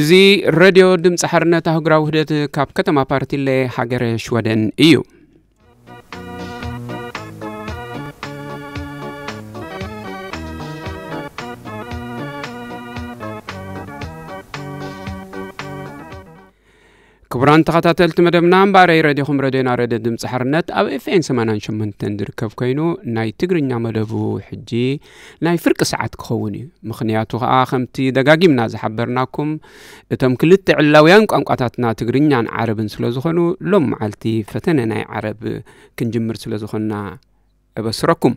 እዚ ረድዮ ድምፂ ሓርነት ኣህጉራዊ ውህደት ካብ ከተማ ፓርቲለ ሃገረ ሽወደን እዩ ክቡራን ተኸታተልቲ መደብና እምበኣረይ ረድኹም ረድዮና ረድዮ ድምፂ ሓርነት ኣብ ኤፍኤን 88 ዝርከብ ኮይኑ ናይ ትግርኛ መደቡ ሕጂ ናይ ፍርቂ ሰዓት ክኸውን እዩ ምክንያቱ ከዓ ከምቲ ደጋጊምና ዝሓበርናኩም እቶም ክልተ ዕላውያን ቋንቋታትና ትግርኛን ዓረብን ስለ ዝኾኑ ሎም መዓልቲ ፈተነ ናይ ዓረብ ክንጅምር ስለ ዝኾንና እበስረኩም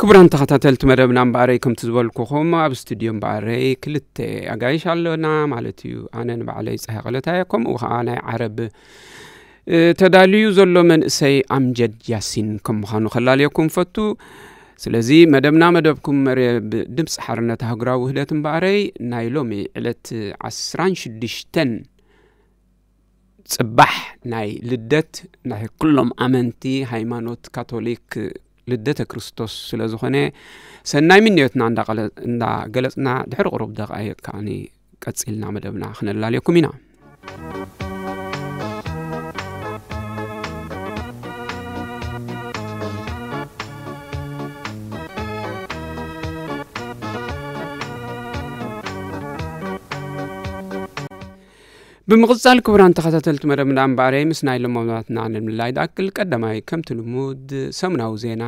ክቡራን ተኸታተልቲ መደብና እምበኣረይ ከምቲ ዝበልኩኹም ኣብ ስቱድዮ እምበኣረይ ክልተ ኣጋይሽ ኣለና ማለት እዩ ኣነ ንባዕለይ ፀሃ ቀለታየ ከምኡ ከዓ ናይ ዓረብ ተዳልዩ ዘሎ መንእሰይ ኣምጀድ ያሲን ከም ምዃኑ ከላለየኩም ፈቱ ስለዚ መደብና መደብኩም መርብ ድምፂ ሓርነት ሃገራዊ ውህደት እምበኣረይ ናይ ሎሚ ዕለት 16 ጽባሕ ናይ ልደት ናይ ኩሎም ኣመንቲ ሃይማኖት ካቶሊክ ልደተ ክርስቶስ ስለ ዝኾነ ሰናይ ምንዮትና እንዳገለጽና ድሕሪ ቅሩብ ደቃይቅ ከኣ ቀጺልና መደብና ክነላልየኩም ኢና ብምቕጻል ክቡራን ተኸታተልቲ መደብ እንዳ እምበኣረይ ምስ ናይ ለማማትና ንምልላይ ዝኣክል ቀዳማይ ከምቲ ልሙድ ሰሙናዊ ዜና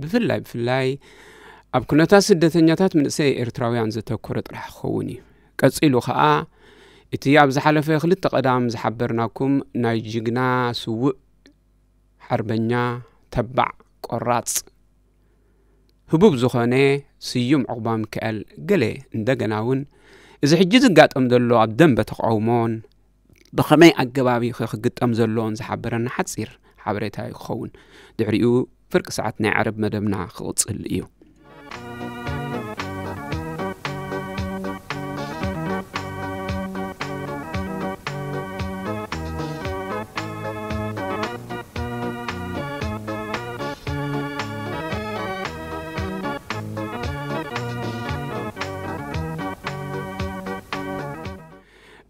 ብፍላይ ብፍላይ ኣብ ኩነታት ስደተኛታት ምንእሰይ ኤርትራውያን ዘተኮረ ጥራሕ ክኸውን እዩ ቀጺሉ ኸኣ እቲ ኣብ ዝሓለፈ ክልተ ቀዳም ዝሓበርናኩም ናይ ጅግና ስውእ ሓርበኛ ተባዕ ቆራጽ ህቡብ ዝኾነ ስዩም ዑቕባሚካኤል ገለ እንደገና እውን እዚ ሕጂ ዝጋጠም ዘሎ ኣብ ደንበ ተቃውሞን ብኸመይ ኣገባብ እዩ ክግጠም ዘለዎን ዝሓበረና ሓፂር ሓበሬታ እዩ ክኸውን ድሕሪኡ ፍርቂ ሰዓት ናይ ዓረብ መደብና ክቕፅል እዩ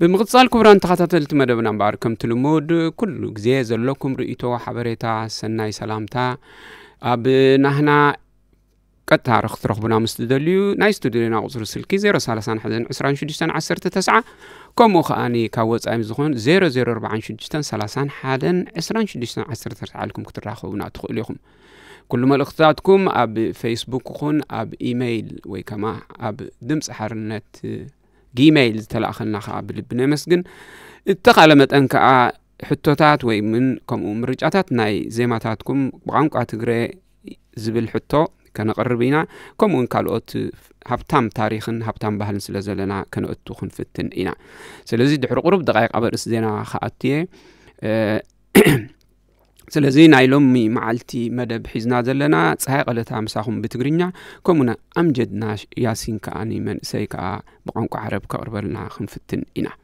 ብምቕጻል ክቡራን ተኸታተልቲ መደብና እምበኣር ከምቲ ልሙድ ኩሉ ግዜ ዘለኩም ርእቶ ሓበሬታ ሰናይ ሰላምታ ኣብ ናህና ቀጥታ ክትረኽቡና ምስ ትደልዩ ናይ ስቱድዮና ቁፅሪ ስልኪ 0312619 ከምኡ ከዓ ካብ ወፃኢ ዝኾን 0046312619 ተዓልኩም ክትራኸቡና ትኽእሉ ኢኹም ኩሉ መልእኽትታትኩም ኣብ ፌስቡክ ይኹን ኣብ ኢመይል ወይ ከማ ኣብ ድምፂ ሓርነት ጊመይል ዝተላእኸልና ከዓ ብልቢ ነመስግን እተኻለ መጠን ከዓ ሕቶታት ወይ ምን ከምኡ ምርጫታት ናይ ዜማታትኩም ብቋንቋ ትግረ ዝብል ሕቶ ከነቕርብ ኢና ከምኡውን ካልኦት ሃብታም ታሪክን ሃብታም ባህልን ስለ ዘለና ከነእቱ ክንፍትን ኢና ስለዚ ድሕሪ ቅሩብ ደቃይቅ ኣበርእስ ዜና ከኣት እየ ስለዚ ናይ ሎሚ መዓልቲ መደብ ሒዝና ዘለና ፀሃይ ቀለታ ምሳኹም ብትግርኛ ከምኡና ኣምጀድና ያሲን ከዓኒ መንእሰይ ከዓ ብቋንቋ ዓረብ ከቕርበልና ክንፍትን ኢና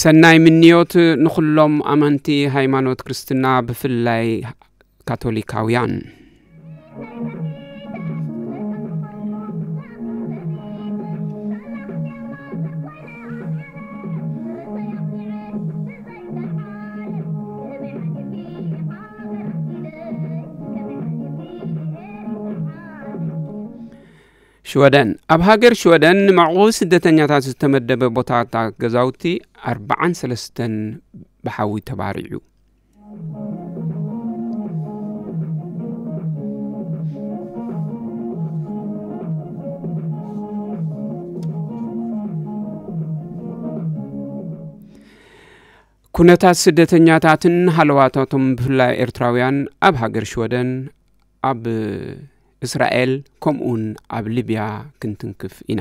ሰናይ ምንዮት ንኹሎም ኣመንቲ ሃይማኖት ክርስትና ብፍላይ ካቶሊካውያን። ሽወደን ኣብ ሃገር ሽወደን ንመዕቆቢ ስደተኛታት ዝተመደበ ቦታታት ገዛውቲ ኣርባዓን ሰለስተን ብሓዊ ተባሪዑ ኩነታት ስደተኛታትን ሃለዋታቶም ብፍላይ ኤርትራውያን ኣብ ሃገር ሽወደን ኣብ እስራኤል ከምኡውን ኣብ ሊብያ ክንትንክፍ ኢና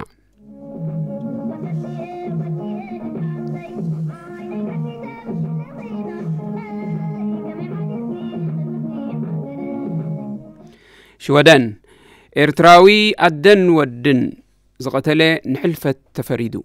ሽወደን ኤርትራዊ ኣደን ወድን ዝቐተለ ንሕልፈት ተፈሪዱ።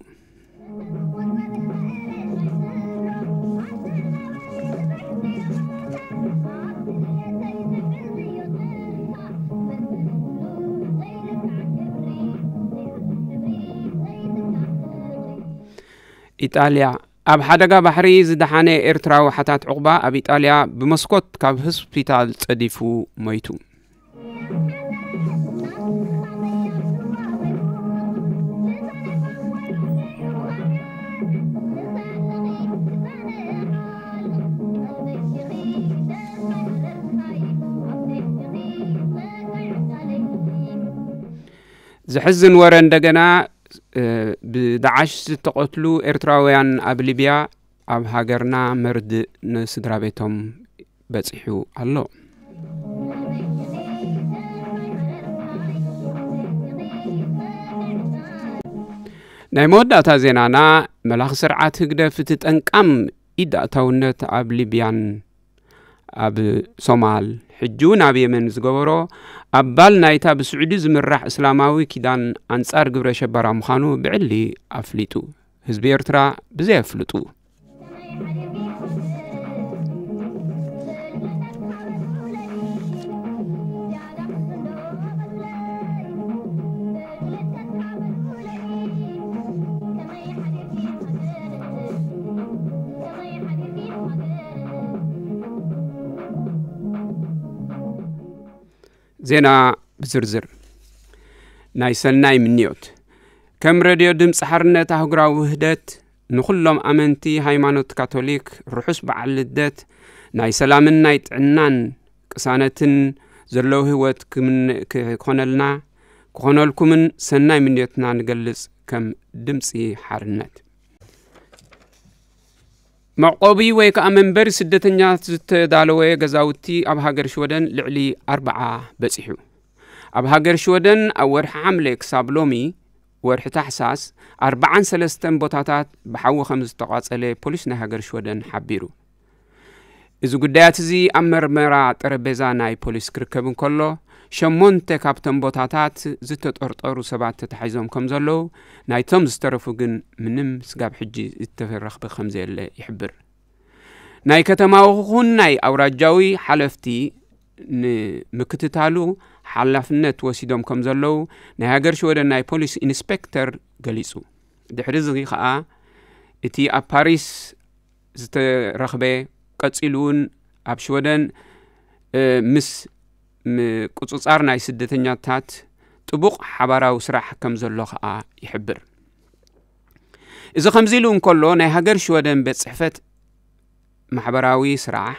ኢጣልያ ኣብ ሓደጋ ባሕሪ ዝደሓነ ኤርትራዊ ሓታት ዕቑባ ኣብ ኢጣልያ ብመስኮት ካብ ህስፒታል ጸዲፉ ሞይቱ። ዘሕዝን ወረ እንደገና ብዳዓሽ ዝተቐትሉ ኤርትራውያን ኣብ ሊብያ ኣብ ሃገርና መርድእ ንስድራ ቤቶም በፂሑ ኣሎ ናይ መወዳእታ ዜናና መላኺ ስርዓት ህግደፍ እቲ ጠንቃም ኢዳእታውነት ኣብ ሊብያን ኣብ ሶማል ሕጂ እውን ኣብ የመን ዝገበሮ ኣባል ናይታ ብስዑዲ ዝምራሕ እስላማዊ ኪዳን ኣንጻር ግብረ ሸበራ ምዃኑ ብዕሊ ኣፍሊጡ ህዝቢ ኤርትራ ብዘየፍልጡ ዜና ብዝርዝር ናይ ሰናይ ምንዮት ከም ረድዮ ድምፂ ሓርነት ኣህጉራዊ ውህደት ንዅሎም ኣመንቲ ሃይማኖት ካቶሊክ ርሑስ በዓል ልደት ናይ ሰላምን ናይ ጥዕናን ቅሳነትን ዘለዎ ህይወት ክኾነልና ክኾነልኩምን ሰናይ ምንዮትና ንገልጽ ከም ድምፂ ሓርነት መዕቆቢ ወይ ከዓ መንበሪ ስደተኛት ዝተዳለወ ገዛውቲ ኣብ ሃገር ሽወደን ልዕሊ ኣርበዓ በፂሑ ኣብ ሃገር ሽወደን ኣብ ወርሒ ሓምለ ክሳብ ሎሚ ወርሒ ታሕሳስ ኣርበዓን ሰለስተን ቦታታት ብሓዊ ከም ዝተቋጸለ ፖሊስ ናይ ሃገር ሽወደን ሓቢሩ እዚ ጉዳያት እዚ ኣብ መርመራ ጠረጴዛ ናይ ፖሊስ ክርከብ እንከሎ ሸሞንተ ካብቶም ቦታታት ዝተጠርጠሩ ሰባት ተታሒዞም ከም ዘለዉ ናይቶም ዝተረፉ ግን ምንም ስጋብ ሕጂ ዝተረኽበ ከም ዘየለ ይሕብር ናይ ከተማዊ ኹን ናይ ኣውራጃዊ ሓለፍቲ ንምክትታሉ ሓላፍነት ወሲዶም ከም ዘለዉ ናይ ሃገር ሽወደን ናይ ፖሊስ ኢንስፔክተር ገሊጹ ድሕሪ እዚ ከዓ እቲ ኣብ ፓሪስ ዝተረኽበ ቀፂሉ እውን ኣብ ሽወደን ምስ ምቁፅፃር ናይ ስደተኛታት ጥቡቕ ሓባራዊ ስራሕ ከም ዘሎ ከዓ ይሕብር እዚ ከምዚ ኢሉ እንከሎ ናይ ሃገር ሽወደን ቤት ፅሕፈት ማሕበራዊ ስራሕ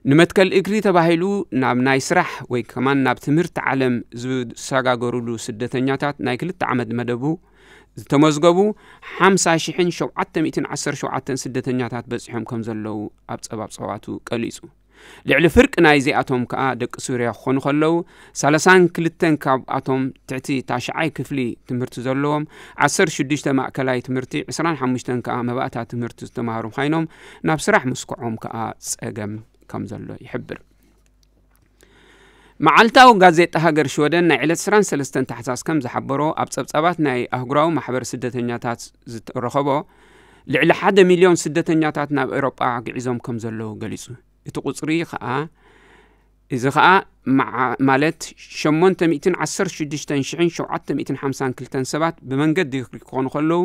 ንመትከል እግሪ ተባሂሉ ናብ ናይ ስራሕ ወይ ከማን ናብ ትምህርቲ ዓለም ዝሰጋገሩሉ ስደተኛታት ናይ ክልተ ዓመት መደቡ ዝተመዝገቡ 50,717 ስደተኛታት በፂሖም ከም ዘለዉ ኣብ ፀባብ ፀዋቱ ቀሊፁ ልዕሊ ፍርቂ ናይዚኣቶም ከዓ ደቂ ሱርያ ክኾኑ ከለዉ 32 ካብኣቶም ትሕቲ ታሽዓይ ክፍሊ ትምህርቲ ዘለዎም 16 ማእከላይ ትምህርቲ 25 ከዓ መባእታ ትምህርቲ ዝተማሃሩ ኮይኖም ናብ ስራሕ ምስክዖም ከኣ ጸገም ከም ዘሎ ይሕብር። መዓልታዊ ጋዜጣ ሃገር ሽወደን ናይ ዕለት 23 ታሕሳስ ከም ዝሓበሮ ኣብ ጸብጻባት ናይ ኣህጉራዊ ማሕበር ስደተኛታት ዝተረኸቦ ልዕሊ ሓደ ሚልዮን ስደተኛታት ናብ ኤውሮጳ ግዒዞም ከም ዘለዉ ገሊጹ። እቲ ቁጽሪ ከኣ እዚ ከኣ መዓ ማለት ሸሞንተ ሚእትን ዓሰርተ ሽዱሽተን ሽሕን ሸውዓተ ሚእትን ሓምሳን ክልተን ሰባት ብመንገዲ ክኾኑ ከለዉ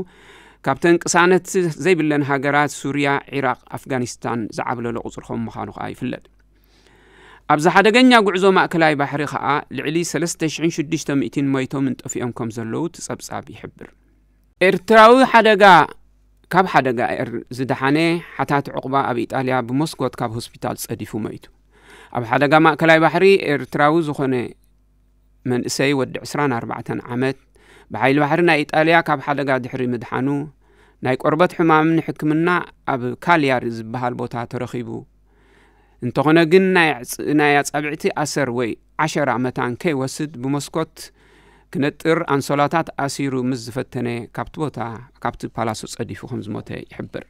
ካብተን ቅሳነት ዘይብለን ሃገራት ሱርያ፣ ዒራቕ፣ ኣፍጋኒስታን ዝዓብለሎ ቁጽሪ ከም ምዃኑ ከኣ ይፍለጥ። ኣብዚ ሓደገኛ ጉዕዞ ማእከላይ ባሕሪ ከኣ ልዕሊ ሰለስተ ሽሕን ሽዱሽተ ሚእቲን ሞይቶምን ጠፊኦም ከም ዘለዉ እቲ ጸብጻብ ይሕብር። ኤርትራዊ ሓደጋ ካብ ሓደጋ ኤር ዝደሓነ ሓታት ዑቕባ ኣብ ኢጣልያ ብመስኮት ካብ ሆስፒታል ጸዲፉ መይቱ። ኣብ ሓደጋ ማእከላይ ባሕሪ ኤርትራዊ ዝኾነ መንእሰይ ወዲ 24 ዓመት ብሓይሊ ባሕሪ ናይ ኢጣልያ ካብ ሓደጋ ድሕሪ ምድሓኑ ናይ ቆርበት ሕማም ንሕክምና ኣብ ካልያሪ ዝበሃል ቦታ ተረኺቡ እንተኾነ ግን ናይ ኣጻብዕቲ ኣሰር ወይ ዓሸራ መታን ከይወስድ ብመስኮት ክነጥር ኣንሶላታት ኣሲሩ ምስ ዝፈተነ ካብቲ ቦታ ካብቲ ፓላሶ ጸዲፉ ከም ዝሞተ ይሕብር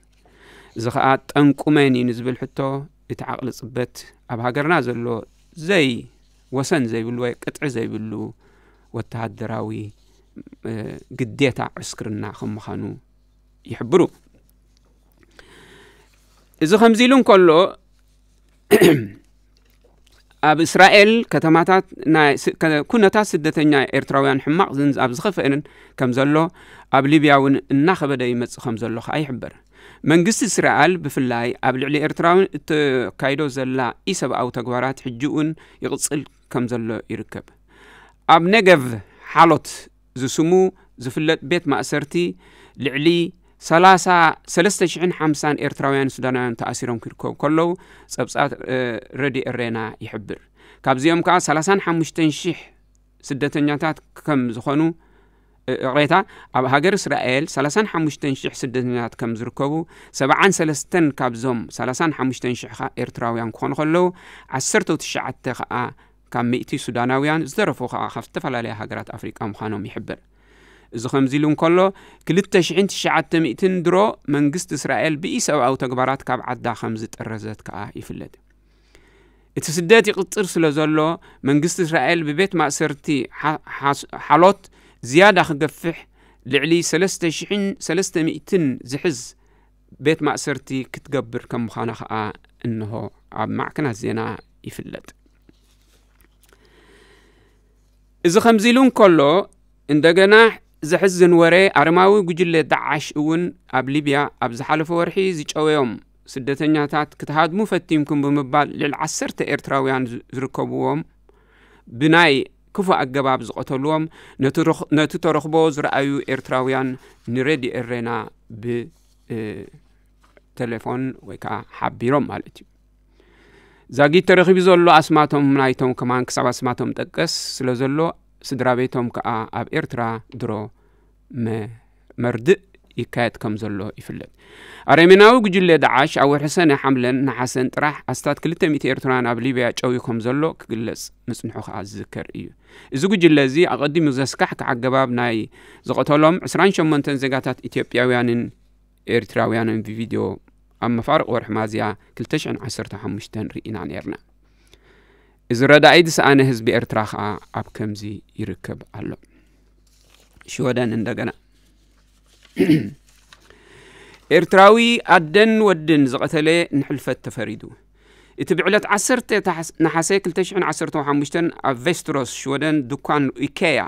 እዚ ከዓ ጠንቁ መን እዩ ንዝብል ሕቶ እቲ ዓቕሊ ጽበት ኣብ ሃገርና ዘሎ ዘይ ወሰን ዘይብሉ ወይ ቅጥዒ ዘይብሉ ወተሃደራዊ ግዴታ ዕስክርና ከም ምዃኑ ይሕብሩ እዚ ከምዚ ኢሉ እንከሎ ኣብ እስራኤል ከተማታት ኩነታት ስደተኛ ኤርትራውያን ሕማቕ ኣብ ዝኸፍአንን ከም ዘሎ ኣብ ሊብያ እውን እናኸበደ ይመፅእ ከም ዘሎ ከዓ ይሕበር መንግስቲ እስራኤል ብፍላይ ኣብ ልዕሊ ኤርትራውን እተካይዶ ዘላ ኢሰብኣዊ ተግባራት ሕጂ እውን ይቕፅል ከም ዘሎ ይርከብ ኣብ ነገቭ ሓሎት ዝስሙ ዝፍለጥ ቤት ማእሰርቲ ልዕሊ ሰላሳ ሰለስተ ሽሕን ሓምሳን ኤርትራውያን ሱዳናውያን ተኣሲሮም ክርከቡ ከለዉ ጸብጻብ ረድዮ ኤሬና ይሕብር። ካብዚኦም ከኣ ሰላሳን ሓሙሽተን ሽሕ ስደተኛታት ከም ዝኾኑ እቕሬታ ኣብ ሃገር እስራኤል ሰላሳን ሓሙሽተን ሽሕ ስደተኛታት ከም ዝርከቡ ሰብዓን ሰለስተን ካብዞም ሰላሳን ሓሙሽተን ሽሕ ከኣ ኤርትራውያን ክኾኑ ከለዉ ዓሰርተው ትሽዓተ ከኣ ካብ ሚእቲ ሱዳናውያን ዝተረፉ ከኣ ካብ ዝተፈላለያ ሃገራት ኣፍሪቃ ምዃኖም ይሕብር። እዚ ከምዚሉ እንከሎ፣ ክልተ ሽሕን ትሽዓተ ሚእትን ድሮ መንግስቲ እስራኤል ብኢሰብኣዊ ተግባራት ካብ ዓዳ ከምዝጥረዘት ከኣ ይፍለጥ። እቲ ስደት ይቕጽል ስለዘሎ፣ መንግስቲ እስራኤል ብቤት ማእሰርቲ ሓሎት ዝያዳ ክገፍሕ ልዕሊ ሰለስተ ሽሕን ሰለስተ ሚእትን ዝሕዝ ቤት ማእሰርቲ ክትገብር ከም ምዃና ኸኣ እንሆ ኣብ ማዕከናት ዜና ይፍለጥ። እዚ ከምዚ ኢሉ እንከሎ እንደገና ዘሕዝን ወረ ኣረማዊ ጉጅለ ዳዓሽ እውን ኣብ ሊብያ ኣብ ዝሓለፈ ወርሒ ዝጨወዮም ስደተኛታት ክትሃድሙ ፈቲንኩም ብምባል ልዕሊ ዓሰርተ ኤርትራውያን ዝርከብዎም ብናይ ክፉእ ኣገባብ ዝቐተሉዎም ነቲ ተረኽቦ ዝረኣዩ ኤርትራውያን ንሬድዮ ኤሬና ብ ቴሌፎን ወይ ከዓ ሓቢሮም ማለት እዩ ዛጊት ተረኪቡ ዘሎ ኣስማቶም ናይቶም ከማን ክሳብ ኣስማቶም ጠቀስ ስለ ዘሎ ስድራ ቤቶም ከዓ ኣብ ኤርትራ ድሮ መርድእ ይካየድ ከም ዘሎ ይፍለጥ ኣረሜናዊ ጉጅለ ዳዓሽ ኣብ ወርሒ ሰነ ሓምለን ነሓሰን ጥራሕ ኣስታት 200 ኤርትራውያን ኣብ ሊብያ ጨውዩ ከም ዘሎ ክግለጽ ምጽንሑ ከዓ ዝዝከር እዩ እዚ ጉጅለ እዚ ኣቐዲሙ ዘስካሕክሕ ኣገባብ ናይ ዝቐተሎም 28 ዜጋታት ኢትዮጵያውያንን ኤርትራውያንን ብቪድዮ ኣብ መፋርቅ ወርሒ ማዝያ 215 ርኢና ነርና እዚ ረዳኢ ዝሰኣነ ህዝቢ ኤርትራ ከዓ ኣብ ከምዚ ይርከብ ኣሎ ሽወደን እንደገና ኤርትራዊ ኣደን ወድን ዝቐተለ ንሕልፈት ተፈሪዱ እቲ ብዕለት 1 ነሓሰ 215 ኣብ ቬስትሮስ ሽወደን ድኳን ኢኬያ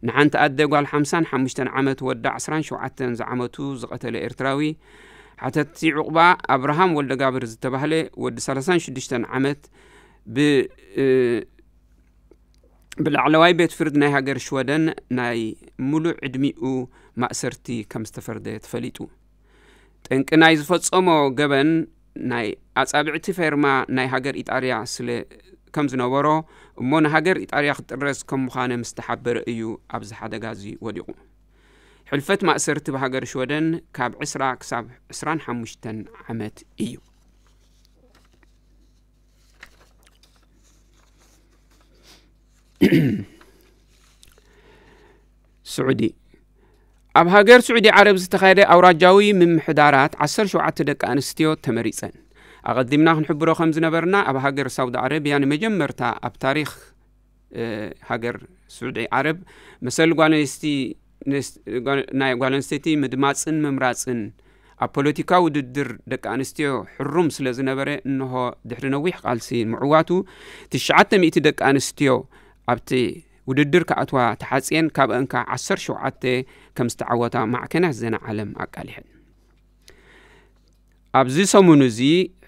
ንሓንቲ ኣደ ጓል 55 ዓመት ወዳ 27 ዝዓመቱ ዝቐተለ ኤርትራዊ ሓተቲ ዕቑባ ኣብርሃም ወልደጋብር ዝተባህለ ወዲ 36 ዓመት ብ ብላዕለዋይ ቤት ፍርድ ናይ ሃገር ሽወደን ናይ ሙሉእ ዕድሚኡ ማእሰርቲ ከም ዝተፈርደ ተፈሊጡ ጠንቂ ናይ ዝፈጸሞ ገበን ናይ ኣጻብዕቲ ፌርማ ናይ ሃገር ኢጣርያ ስለ ከም ዝነበሮ እሞ ንሃገር ኢጣርያ ክጥረዝ ከም ምዃነ ምስ ተሓበረ እዩ ኣብዚ ሓደጋ እዚ ወዲቑ ሕልፈት ማእሰርቲ ብሃገር ሽወደን ካብ 20 ክሳብ 25 ዓመት እዩ ስዑዲ ኣብ ሃገር ስዑዲ ዓረብ ዝተኻየደ ኣውራጃዊ ምምሕዳራት 17 ደቂ ኣንስትዮ ተመሪፀን ኣቐዲምና ክንሕብሮ ከም ዝነበርና ኣብ ሃገር ሳውዲ ዓረብያ ንመጀመርታ ኣብ ታሪክ ሃገር ስዑዲ ዓረብ መሰል ናይ ጓል ኣንስተይቲ ምድማፅን ምምራፅን ኣብ ፖለቲካ ውድድር ደቂ ኣንስትዮ ሕሩም ስለ ዝነበረ እንሆ ድሕሪ ነዊሕ ቃልሲ ምዕዋቱ ትሽዓተ ሚእቲ ደቂ ኣንስትዮ ኣብቲ ውድድር ክኣትዋ ተሓፅየን ካብአን ከዓ ዓሰር ሸውዓተ ከም ዝተዓወታ ማዕከናት ዘና ዓለም ኣቃሊሐን ኣብዚ ሰሙን እዚ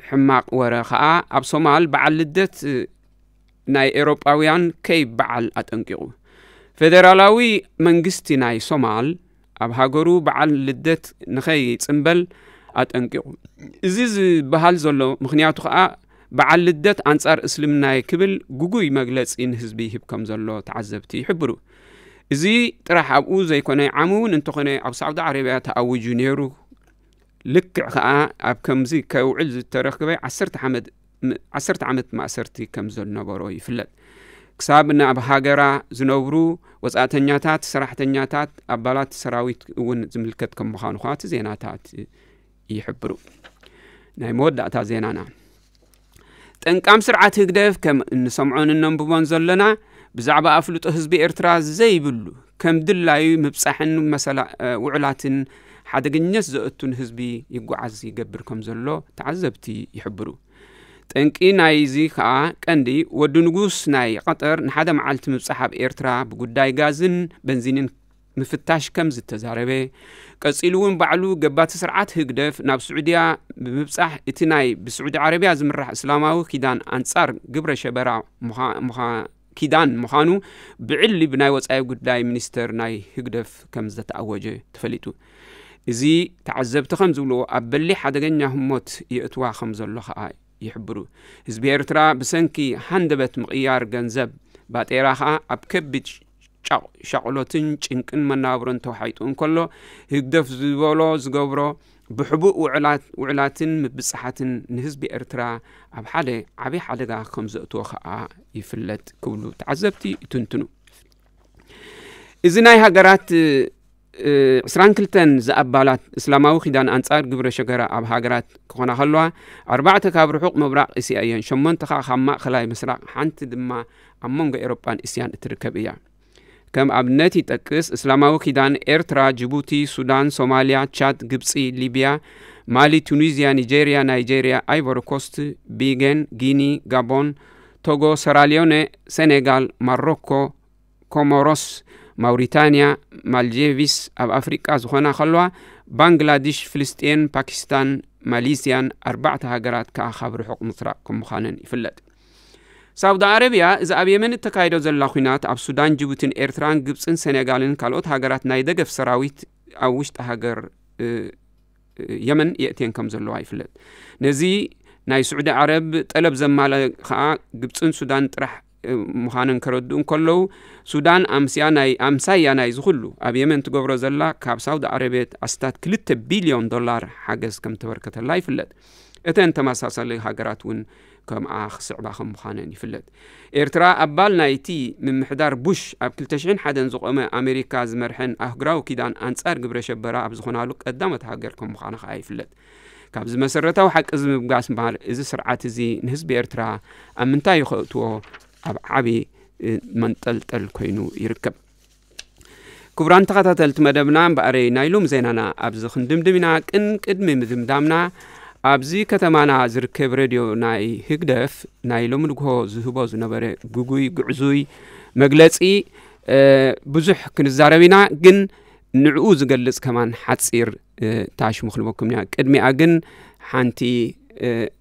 ሕማቅ ወረ ከዓ ኣብ ሶማል በዓል ልደት ናይ ኤውሮጳውያን ከይበዓል ኣጠንቂቑ። ፌደራላዊ መንግስቲ ናይ ሶማል ኣብ ሃገሩ በዓል ልደት ንኸይጽምበል ኣጠንቂቑ። እዚ ዝበሃል ዘሎ ምኽንያቱ ከኣ በዓል ልደት ኣንጻር እስልምናየ ክብል ግጉይ መግለጺ ንህዝቢ ይህብ ከም ዘሎ ተዓዘብቲ ይሕብሩ። እዚ ጥራሕ ኣብኡ ዘይኮነ ዓሚ እውን እንተኾነ ኣብ ሳዑዲ ዓረብያ ተኣዊጁ ነይሩ። ልክዕ ከኣ ኣብ ከምዚ ከውዕል ዝተረክበ ዓሰርተ ሓመድ ዓሰርተ ዓመት ማእሰርቲ ከም ዘነበሮ ይፍለጥ ክሳብ ናብ ሃገራ ዝነብሩ ወፃእተኛታት ሰራሕተኛታት ኣባላት ሰራዊት እውን ዝምልከት ከም ምዃኑ ከ እቲ ዜናታት ይሕብሩ ናይ መወዳእታ ዜናና ጠንቃም ስርዓት ህግደፍ ከም እንሰምዖን እነንብቦን ዘለና ብዛዕባ ኣፍልጦ ህዝቢ ኤርትራ ዘይብሉ ከም ድላዩ ምብጻሕን መሰላ ውዑላትን ሓደገኘት ዘእቱን ህዝቢ ይጓዓዝ ይገብር ከም ዘሎ ተዓዘብቲ ይሕብሩ። ጠንቂ ናይዚ ከኣ ቀንዲ ወዲ ንጉስ ናይ ቐጠር ንሓደ መዓልቲ ምብጻሕ ኣብ ኤርትራ ብጉዳይ ጋዝን በንዚንን ምፍታሽ ከም ዝተዛረበ ቀጺሉ እውን ባዕሉ ገባቲ ስርዓት ህግደፍ ናብ ስዑድያ ብምብጻሕ እቲ ናይ ብስዑዲ ዓረብያ ዝምራሕ እስላማዊ ኪዳን ኣንጻር ግብረ ሸበራ ምዃ ኪዳን ምዃኑ ብዕሊ ብናይ ወጻኢ ጉዳይ ሚኒስተር ናይ ህግደፍ ከም ዝተኣወጀ ተፈሊጡ። እዚ ተዓዘብቲ ከም ዝብልዎ ኣብ በሊሕ ሓደገኛ ህሞት የእትዋ ከም ዘሎ ከኣ ይሕብሩ። ህዝቢ ኤርትራ ብሰንኪ ሃንደበት ምቕያር ገንዘብ ባጤራ ከኣ ኣብ ከቢድ ሻቕሎትን ጭንቅን መነባብሮን ተዋሒጡ እንከሎ ህግደፍ ዝበሎ ዝገብሮ ብሕቡእ ውዕላት ውዕላትን ምብጻሓትን ንህዝቢ ኤርትራ ኣብ ሓደ ዓብዪ ሓደጋ ከም ዘእትዎ ከኣ ይፍለጥ ክብሉ ተዓዘብቲ ይትንትኑ። እዚ ናይ ሃገራት ዕስራን ክልተን ዝኣባላት እስላማዊ ኪዳን ኣንጻር ግብረ ሸገራ ኣብ ሃገራት ክኾና ከለዋ ኣርባዕተ ካብ ርሑቕ ምብራቕ እስያ እየን ሸሞንተ ከዓ ካብ ማእኸላይ ምስራቕ ሓንቲ ድማ ኣብ መንጎ ኤሮጳን እስያን እትርከብ እያ ከም ኣብነት ይጠቅስ፣ እስላማዊ ኪዳን፣ ኤርትራ፣ ጅቡቲ፣ ሱዳን፣ ሶማልያ፣ ቻድ፣ ግብጺ፣ ሊብያ፣ ማሊ፣ ቱኒዝያ፣ ኒጀርያ፣ ናይጀርያ፣ ኣይቮሪኮስት፣ ቢገን፣ ጊኒ፣ ጋቦን፣ ቶጎ፣ ሰራልዮነ፣ ሰኔጋል፣ ማሮኮ፣ ኮሞሮስ፣ ማውሪታንያ፣ ማልጄቪስ ኣብ ኣፍሪቃ ዝኾና ከለዋ ባንግላዲሽ፣ ፍልስጤን፣ ፓኪስታን፣ ማሊስያን ኣርባዕተ ሃገራት ከኣ ካብ ርሑቕ ምስራቕ ከም ምዃነን ይፍለጥ። ሳውዲ ዓረብያ እዚ ኣብ የመን እተካይዶ ዘላ ኩናት ኣብ ሱዳን ጅቡትን ኤርትራን ግብፅን ሰኔጋልን ካልኦት ሃገራት ናይ ደገፍ ሰራዊት ኣብ ውሽጢ ሃገር የመን የእትየን ከም ዘለዋ ይፍለጥ ነዚ ናይ ስዑዲ ዓረብ ጠለብ ዘማለ ከዓ ግብፅን ሱዳን ጥራሕ ምዃነን ከረድኡ እንከለዉ ሱዳን ኣምስያ ናይ ኣምሳያ ናይ ዝኹሉ ኣብ የመን ትገብሮ ዘላ ካብ ሳውዲ ዓረቤት ኣስታት ክልተ ቢልዮን ዶላር ሓገዝ ከም ተበርከተላ ይፍለጥ እተን ተመሳሳሊ ሃገራት እውን ከምኣ ክስዕባ ከም ምዃነን ይፍለጥ። ኤርትራ ኣባል ናይቲ ምምሕዳር ቡሽ ኣብ ክልተ ሽሕን ሓደን ዝቖመ ኣሜሪካ ዝመርሐን ኣህጉራዊ ኪዳን ኣንጻር ግብረ ሸበራ ኣብ ዝኾናሉ ቀዳሞት ሃገር ከም ምዃና ከኣ ይፍለጥ። ካብዚ መሰረታዊ ሓቂ እዚ ምብጋስ እምበኣር እዚ ስርዓት እዚ ንህዝቢ ኤርትራ ኣብ ምንታይ ከእትዎ ኣብ ዓቢ መንጠልጠል ኮይኑ ይርከብ። ክቡራን ተኸታተልቲ መደብና እምበኣረይ ናይ ሎም ዜናና ኣብዚ ክንድምድም ኢና ቅን ቅድሚ ምድምዳምና ኣብዚ ከተማና ዝርከብ ሬድዮ ናይ ህግደፍ ናይ ሎሚ ንግሆ ዝህቦ ዝነበረ ግጉይ ግዕዙይ መግለፂ ብዙሕ ክንዛረብ ኢና ግን ንዕኡ ዝገልጽ ከማን ሓፂር ታሽሙ ክንበኩም ኢና ቅድሚኣ ግን ሓንቲ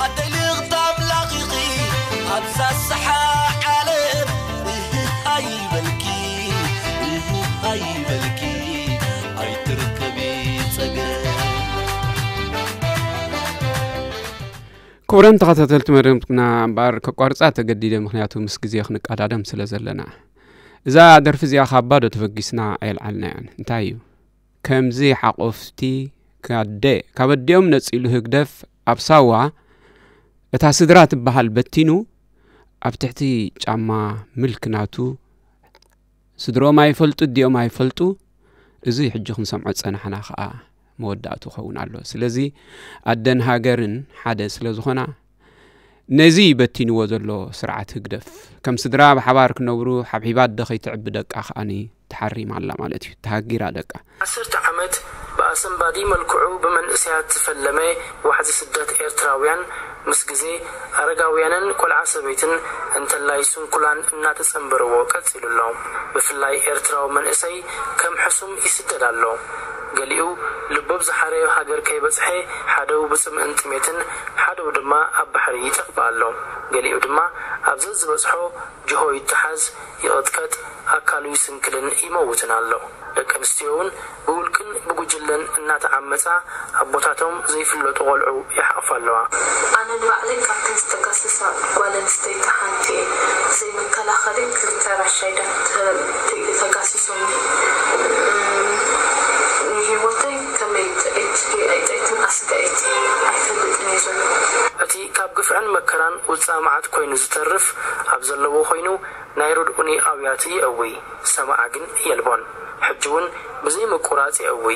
ኣደይ ልእኽቲ ኣምላኽ ኢኺ ኣብዛ ዝሰሓ ዓለም እህህ ኣይበልኪ እህህ ኣይበልኪ ኣይትርከቢ ጸገም ክቡራን ተኸታተልቲ መደብና እምበኣር ከቋርፃ ተገዲደ ምክንያቱ ምስ ግዜ ክንቀዳደም ስለ ዘለና እዛ ደርፊ እዚኣ ካብ ባዶ ተበጊስና ኣየልዓልናያን እንታይ እዩ ከምዚ ሓቆፍቲ ካደ ካብ ኣዲኦም ነፂሉ ህግደፍ ኣብ ሳዋ እታ ስድራ ትበሃል በቲኑ ኣብ ትሕቲ ጫማ ምልክ ናቱ ስድሮኦም ኣይፈልጡ ዲኦም ኣይፈልጡ እዙይ ሕጂ ክንሰምዖ ዝጸናሕና ኸዓ መወዳእቱ ኸውን ኣሎ ስለዚ ኣደን ሃገርን ሓደ ስለ ዝኾና ነዚ በቲንዎ ዘሎ ስርዓት ህግደፍ፣ ከም ስድራ ብሓባር ክነብሩ ሓብሒባ ኣደ ከይትዕቢ ደቃ ከኣ ተሓሪማ ኣላ ማለት እዩ። ተሃጊራ ደቃ። ዓሰርተ ዓመት ብኣሰንባዲ መልክዑ ብመንእሰያት ዝፈለመ ዋሕዚ ስደት ኤርትራውያን፣ ምስ ግዜ፣ ኣረጋውያንን ቆልዓ ሰበይትን እንተላይ ስንኩላን እናተጸንበርዎ ቀጺሉ ኣሎ። ብፍላይ ኤርትራዊ መንእሰይ ከም ሕሱም ይስደድ ኣሎ። ገሊኡ ልቦብ ዝሓረዮ ሃገር ከይበጽሐ ሓደው ብጽምእን ጥሜትን ሓደው ድማ ኣብ ባሕሪ ይጠፍእ ኣሎ። ገሊኡ ድማ ኣብ ዘዝበጽሖ ጅሆ ይተሓዝ፣ ይቕጥቀጥ፣ ኣካሉ ይስንክልን ይመውትን ኣሎ። ደቂ ኣንስትዮውን ብውልቅን ብጉጅለን እናተዓመጻ ኣቦታቶም ዘይፍለጡ ቆልዑ ይሓቕፋ ኣለዋ። ኣነ ንባዕለይ ካብተን ዝተከስሳ ጓል ኣንስተይቲ ሓንቲ እየ። ብዘይ መከላኸሊ ክልተ ራሻይዳ ተባሂለ ተጋሲሶ። ንህይወተይ ከመይ ጥዕይቲ ድየ ኣይጥዕይትን ኣስጋኢት ኣይፈልጥን እየ ዘለኹ። እቲ ካብ ግፍዕን መከራን ውጽኣ መዓት ኮይኑ ዝተርፍ ኣብ ዘለዎ ኮይኑ ናይ ርድኡኒ ኣውያት የእዊ ሰማዒ ግን የልቦን ሕጂ ውን ብዘይ ምቁራጽ የእዊ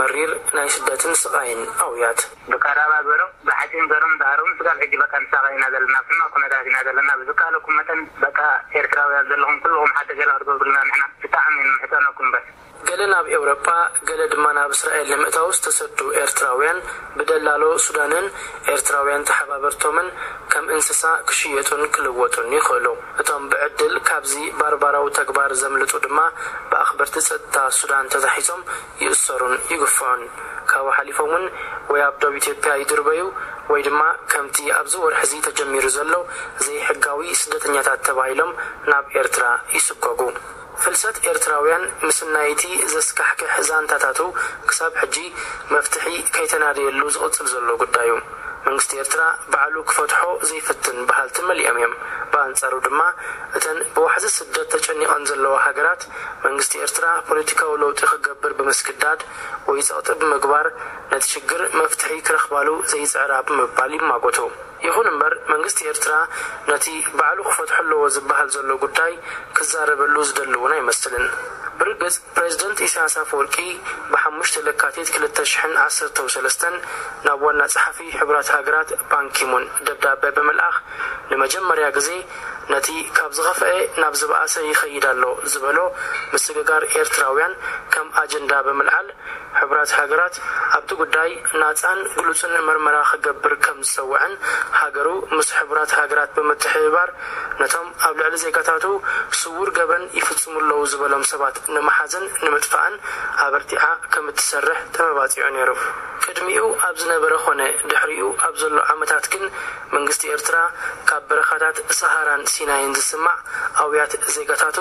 መሪር ናይ ስደትን ስቓይን ኣውያት። ብቀራባ ገሮም ብሓጺን ገሮም እንዳኣረጉ ስጋብ ሕጂ በቃ ንሳቀ ኢና ዘለና ኣብ ሕማቅ ኩነታት ኢና ዘለና ብዝካኣለኩም መጠን በቃ ኤርትራውያን ዘለኹም ኩሉኹም ሓገዝ ገለ ክትገብሩልና ንሕና ብጣዕሚ ንምሕጸነኩም በስ። ገለ ናብ ኤውረጳ ገለ ድማ ናብ እስራኤል ንምእታው ዝተሰዱ ኤርትራውያን ብደላሎ ሱዳንን ኤርትራውያን ተሓባበርቶምን ከም እንስሳ ክሽየጡን ክልወጡን ይኽእሉ። እቶም ብዕድል ካብዚ ባርባራዊ ተግባር ዘምልጡ ድማ ብኣኽበርቲ ጸጥታ ሱዳን ተታሒዞም ይእሰሩን ይግፍዑን ካብኡ ሓሊፎም ውን ወይ ኣብ ዶብ ኢትዮጵያ ይድርበዩ ወይ ድማ ከምቲ ኣብዚ ወርሒ እዚ ተጀሚሩ ዘሎ ዘይሕጋዊ ስደተኛታት ተባሂሎም ናብ ኤርትራ ይስጎጉ። ፍልሰት ኤርትራውያን ምስናይ እቲ ዘስካሕክሕ ዛንታታቱ ክሳብ ሕጂ መፍትሒ ከይተናደየሉ ዝቕጽል ዘሎ ጉዳዩ። መንግስቲ ኤርትራ ባዕሉ ክፈትሖ ዘይፍትን በሃልቲ መሊኦም እዮም። ብኣንጻሩ ድማ እተን ብዋሕዚ ስደት ተጨኒቐን ዘለዋ ሃገራት፣ መንግስቲ ኤርትራ ፖለቲካዊ ለውጢ ክገብር ብምስግዳድ ወይ ጸቕጢ ብምግባር ነቲ ሽግር መፍትሒ ክረኽባሉ ዘይጽዕራ ብምባል ይማጎቱ። ይኹን እምበር መንግስቲ ኤርትራ ነቲ ባዕሉ ክፈትሖ ኣለዎ ዝበሃል ዘሎ ጉዳይ ክዛረበሉ ዝደሊ እውን ኣይመስልን። ብርግጽ ፕረዚደንት ኢሳያስ ኣፈወርቂ ብ ሓሙሽተ ለካቲት ክልተ ሽሕን ዓሰርተው ሰለስተን ናብ ዋና ጸሓፊ ሕቡራት ሃገራት ባንኪሙን ደብዳበ ብምልኣኽ ንመጀመርያ ግዜ ነቲ ካብ ዝኸፈኤ ናብ ዝበኣሰ ይኸይድ ኣሎ ዝበሎ ምስግጋር ኤርትራውያን ከም ኣጀንዳ ብምልዓል፣ ሕቡራት ሃገራት ኣብቲ ጉዳይ ናጻን ግሉጽን መርመራ ክገብር ከም ዝጸወዐን ሃገሩ ምስ ሕቡራት ሃገራት ብምትሕብባር ነቶም ኣብ ልዕሊ ዜጋታቱ ስዉር ገበን ይፍጽሙ ኣለዉ ዝበሎም ሰባት ንምሓዝን ንምጥፋእን ኣበርቲዓ ከም እትሰርሕ ተመባጺዑ ነይሩ። ቅድሚኡ ኣብ ዝነበረ ኮነ ድሕሪኡ ኣብ ዘሎ ዓመታት ግን፣ መንግስቲ ኤርትራ ካብ በረኻታት ሰሃራን ሲናይን ዝስማዕ ኣውያት ዜጋታቱ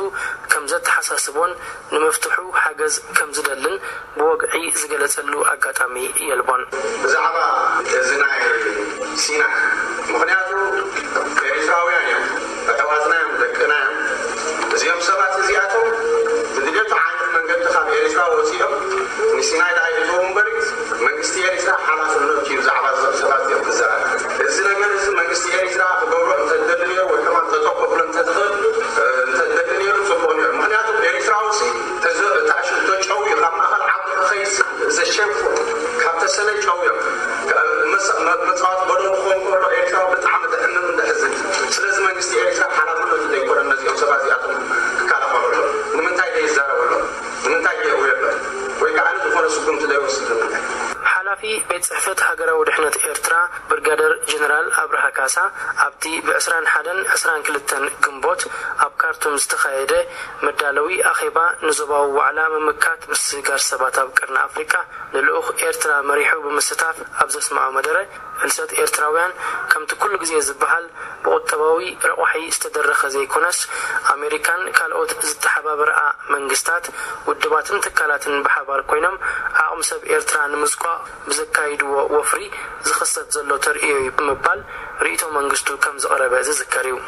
ከም ዘተሓሳስቦን ንምፍትሑ ሓገዝ ከም ዝደልን ብወግዒ ዝገለጸሉ ኣጋጣሚ የልቦን። ብዛዕባ እዚ ናይ ሲናይ ምኽንያቱ ኤሪትራውያን እዮም ኣሕዋትና እዮም ደቅና እዮም እዚኦም ሰባት እዚኣቶም ብግደቱ ዓይነት መንገዲ ካብ ኤሪትራ ወጺኦም ንሲናይ ድኣ ይእተዉ እምበሪ መንግስቲ ኤሪትራ ሓላፍነቱ እዩ ብዛዕባ እዞም ሰባት እዚኦም ክዛረብ እዚ ነገር እዚ መንግስቲ ኤሪትራ ክገብሮ እንተደሊ ኔሩ ወይ ከማን ጠጠው ከብሎ እንተዝኽእል እንተደሊ ኔሩ ጽቡቅ ኔሩ ምክንያቱ ኤሪትራውሲ ተዘ እታ ሽቶ ጨው እዩ ካብ ማእከል ዓዲ ክኸይድ ዘሸንፉ ካብ ተሰነይ ጨው እዮም መጻወቲ በሎ ክኸውን ከሎ ኤሪትራዊ ብጣዕሚ ደሕንኑ ደሕዝን ስለዚ መንግስቲ ኤሪትራ ሓላፍነቱ ዶ ኣይኮነን ነዚኦም ሰባት እዚኣቶም ክካላኸለሎም? ንምንታይ ዶ ይዛረበሎም? ንምንታይ ዶ የእውየሎም? ወይ ከኣ ዝኾነ ስጉምቲ ዶ ይወስድ ንምንታይ? ሓላፊ ቤት ጽሕፈት ሃገራዊ ድሕነት ኤርትራ ብርጋደር ጀነራል ኣብርሃ ካሳ ኣብቲ ብ ዕስራን ሓደን ዕስራን ክልተን ግንቦት ኣብ ካርቱም ዝተኻየደ መዳለዊ ኣኼባ ንዞባዊ ዋዕላ ምምካት ምስግጋር ሰባት ኣብ ቀርኒ ኣፍሪቃ ንልኡኽ ኤርትራ መሪሑ ብምስታፍ ኣብ ዘስመዖ መደረ ፍልሰት ኤርትራውያን ከምቲ ኩሉ ግዜ ዝበሃል ብቑጠባዊ ረቋሒ ዝተደረኸ ዘይኮነስ ኣሜሪካን ካልኦት ዝተሓባበረኣ መንግስታት፣ ውድባትን ትካላትን ብሓባር ኮይኖም ዓቕሚ ሰብ ኤርትራ ንምዝቋቕ ብዘካይድዎ ወፍሪ ዝኽሰት ዘሎ ተርእዮ'ዩ ብምባል ርእይቶ መንግስቱ ከምዘቕረበ ዝዝከር'ዩ።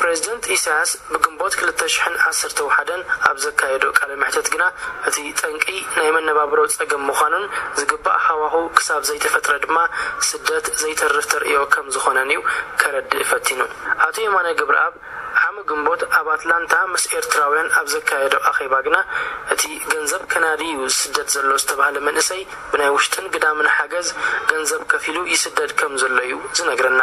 ፕረዚደንት ኢሳያስ ብግንቦት ክልተ ሽሕን ዓሰርተ ውሓደን ኣብ ዘካየዶ ቃለ መሕተት ግና እቲ ጠንቂ ናይ መነባብሮ ጸገም ምዃኑን ዝግባእ ሃዋሁ ክሳብ ዘይተፈጥረ ድማ ስደት ዘይተርፍ ተርእዮ ከም ዝኾነን'ዩ ከረድእ ፈቲኑ። ኣቶ የማነ ገብረኣብ ዓሚ ግንቦት ኣብ ኣትላንታ ምስ ኤርትራውያን ኣብ ዘካየዶ ኣኼባ ግና እቲ ገንዘብ ከናዲ'ዩ ዝስደድ ዘሎ ዝተባህለ መንእሰይ ብናይ ውሽጥን ግዳምን ሓገዝ ገንዘብ ከፊሉ ይስደድ ከም ዘሎ'ዩ ዝነግረና።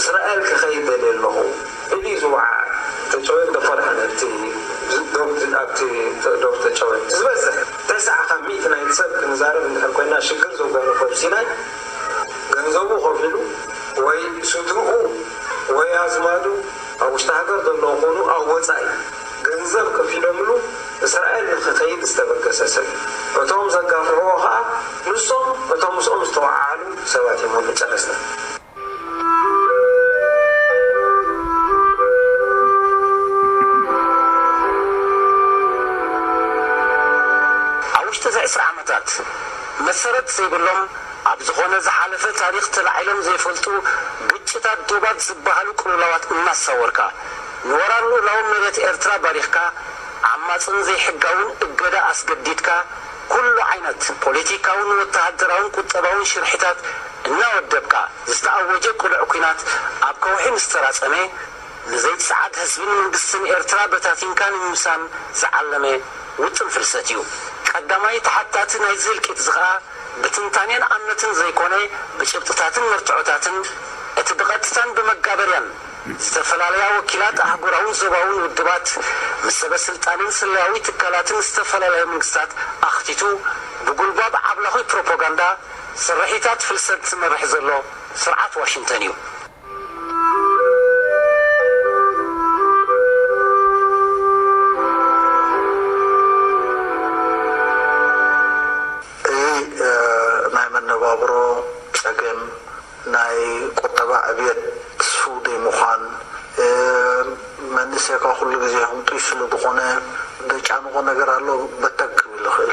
እስራኤል ክኸይድ ደልየ ኣለኹ ኢሉ'ዩ ዝወዓዐ ተጨወ እንዶ ፈርሒ ነቲ ዶብ ኣብቲ ዶብ ተጨወ ዝበዝሕ ተሰዓ ካብ ሚእቲ ናይቲ ሰብ ክንዛረብ እንድሕር ኮይና ሽግር ዘጓነፎ ኣብ ሲናይ ገንዘቡ ከፊሉ ወይ ስድርኡ ወይ ኣዝማዱ ኣብ ውሽጢ ሃገር ዘለዉ ኩኑ ኣብ ወጻኢ ገንዘብ ከፊሎምሉ እስራኤል ንክኸይድ ዝተበገሰ ሰብ እዩ እቶም ዘጋፍዕዎ ከኣ ንሶም እቶም ምስኦም ዝተወዓዓሉ ሰባት እዮም መጨረስታ ኣብ ውሽጢ እዚ ዕስራ ዓመታት መሰረት ዘይብሎም ኣብ ዝኾነ ዝሓለፈ ታሪኽ ተላዒሎም ዘይፈልጡ ግጭታት ዶባት ዝበሃሉ ቅልውላዋት እናሳወርካ ንወራር ልኡላዊ መሬት ኤርትራ ባሪኽካ ዓማጽን ዘይሕጋውን እገዳ ኣስገዲድካ ኩሉ ዓይነት ፖሊቲካውን ወተሃደራውን ቁጠባውን ሽርሒታት እናወደብካ፣ ዝተኣወጀ ቅሉዕ ኩናት ኣብ ከውሒ ምስ ተራጸመ፣ ንዘይጽዓድ ህዝብን መንግስትን ኤርትራ በታቲንካ ንምምሳን ዝዓለመ ውጥን ፍልሰት እዩ። ቀዳማይ ተሓታቲ ናይዚ ህልቂትዚ ከኣ ብትንታኔን ኣምነትን ዘይኮነ ብጭብጥታትን መርትዖታትን እቲ ብቐጥታን ብመጋበርያን ዝተፈላለያ ወኪላት ኣህጉራውን ዞባውን ውድባት ምስ ሰበስልጣንን ስለያዊ ትካላትን ዝተፈላለያ መንግስታት ኣኽቲቱ ብጉልባብ ዓብላኹይ ፕሮፖጋንዳ ስርሒታት ፍልሰት ዝመርሕ ዘሎ ስርዓት ዋሽንተን እዩ። እዚ ናይ መነባብሮ ፀገም፣ ናይ ቁጠባ ዕብየት ትስፉው ዘይምዃን፣ መንእሰይካ ኩሉ ግዜ ህንጡይ ስለ ዝኾነ ዘጫንቖ ነገር ኣሎ በተግ ክብል ይኽእል።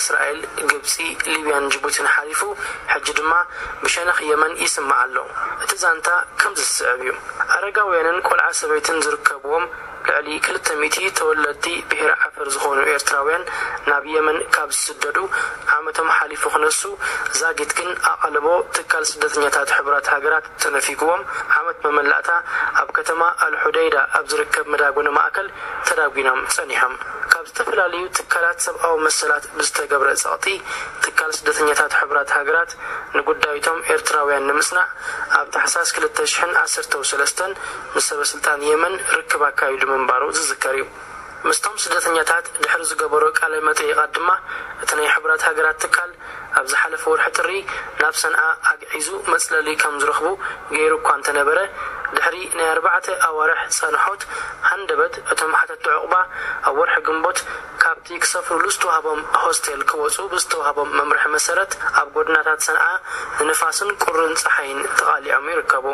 እስራኤል፣ ግብጺ፣ ሊብያን ጅቡቲን ሓሊፉ ሕጂ ድማ ብሸነኽ የመን ይስማዕ ኣሎ። እቲ ዛንታ ከምዚ ዝስዕብ እዩ። ኣረጋውያንን ቆልዓ ሰበይትን ዝርከብዎም ልዕሊ ክልተ ሚእቲ ተወለድቲ ብሄረ ዓፈር ዝኾኑ ኤርትራውያን ናብ የመን ካብ ዝስደዱ ዓመቶም ሓሊፉ ክነሱ ዛጊት ግን ኣቓልቦ ትካል ስደተኛታት ሕቡራት ሃገራት ተነፊጉዎም ዓመት መመላእታ ኣብ ከተማ ኣልሑደይዳ ኣብ ዝርከብ መዳጎኒ ማእከል ተዳጒኖም ጸኒሖም። ካብ ዝተፈላለዩ ትካላት ሰብኣዊ መሰላት ብዝተገብረ ጸቕጢ፣ ትካል ስደተኛታት ሕቡራት ሃገራት ንጉዳይ'ቶም ኤርትራውያን ንምጽናዕ፣ ኣብ ታሕሳስ ክልተ ሽሕን ዓሰርተው ሰለስተን ምስ ሰበስልጣን የመን ርክብ ኣካይዱ ምንባሩ ዝዝከር'ዩ። ምስቶም ስደተኛታት ድሕሪ ዝገበሮ ቃለ-መጠይቓት ድማ፣ እቲ ናይ ሕቡራት ሃገራት ትካል፣ ኣብ ዝሓለፈ ወርሒ ጥሪ ናብ ሰንዓ ኣግዒዙ መጽለሊ ከምዝረኽቡ ገይሩ እኳ እንተነበረ፣ ድሕሪ ናይ ኣርባዕተ ኣዋርሕ ጸንሖት ሃንደበት እቶም ሓተቲ ዑቕባ ኣብ ወርሒ ግንቦት ካብቲ ክሰፍሩሉ ዝተዋህቦም ሆስቴል ክወጹ ብዝተዋህቦም መምርሒ መሰረት ኣብ ጎድናታት ሰንዓ ንንፋስን ቁርን ጸሓይን ተቓሊዖም ይርከቡ።